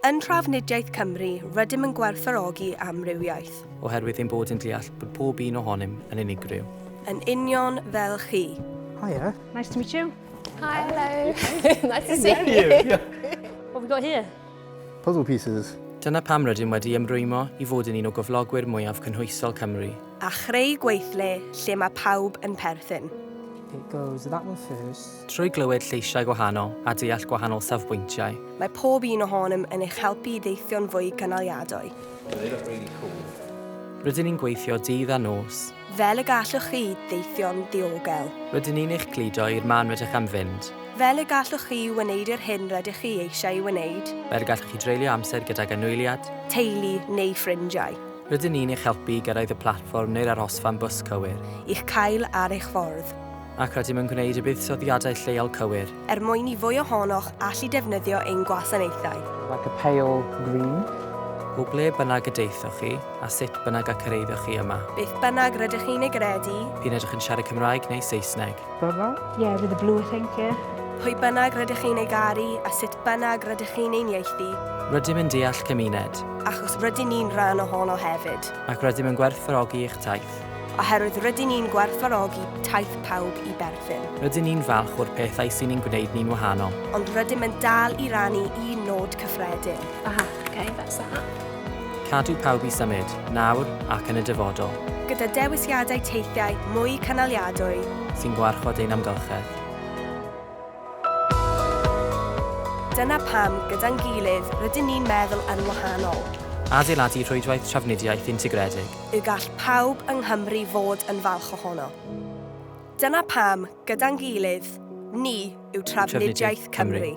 Yn Trafnidiaeth Cymru, rydym yn gwerthfawrogi amrywiaeth. Oherwydd ein bod yn deall bod pob un ohonym yn unigryw. Yn union fel chi. Hiya. Nice to meet you. Hi, hello. nice to see you. What have we got here? Puzzle pieces. Dyna pam rydym wedi ymrwymo i fod yn un o gyflogwyr mwyaf cynhwysol Cymru. A chreu gweithle lle mae pawb yn perthyn. It goes that one first. Trwy glywed lleisiau gwahanol a deall gwahanol safbwyntiau. Mae pob un ohonom yn eich helpu i deithio'n fwy cynaliadwy. Rydyn ni'n gweithio dydd a nos. Fel y gallwch chi ddeithio'n ddiogel. Rydyn ni'n eich cludo i'r man rydych am fynd. Fel y gallwch chi wneud yr hyn rydych chi eisiau ei wneud. Fel y gallwch chi dreulio amser gydag anwyliad. Teulu neu ffrindiau. Rydyn ni'n eich helpu i gyrraedd y platfform neu'r arhosfan bws cywir. I'ch cael ar eich ffordd. Ac rydym yn gwneud y buddsoddiadau lleol cywir. er mwyn i fwy ohonoch allu defnyddio ein gwasanaethau. Like a pale green. O ble bynnag y daethoch chi, a sut bynnag y cyrhaeddoch chi yma. Beth bynnag rydych chi'n ei gredu. P'un ydych yn siarad Cymraeg neu Saesneg. Bravo. Yeah, with a blue thank you. Pwy bynnag rydych chi'n ei garu, a sut bynnag rydych chi'n ein ieithu. Rydym yn deall cymuned. Achos rydyn ni'n rhan ohono hefyd. Ac rydym yn gwerthfawrogi eich taith. oherwydd rydyn ni'n gwerthfawrogi taith pawb i Berthyn. Rydyn ni'n falch o'r pethau sy'n ein gwneud ni'n wahanol. Ond rydym yn dal i rannu un nod cyffredin. Aha, ok, that's that. Cadw pawb i symud, nawr ac yn y dyfodol. Gyda dewisiadau teithiau mwy cynaliadwy. Sy'n gwarchod ein amgylchedd. Dyna pam, gyda'n gilydd, rydyn ni'n meddwl yn wahanol. Adeiladu rhwydwaith trafnidiaeth integredig. Y gall pawb yng Nghymru fod yn falch ohono. Dyna pam, gyda'n gilydd, ni yw Trafnidiaeth Cymru.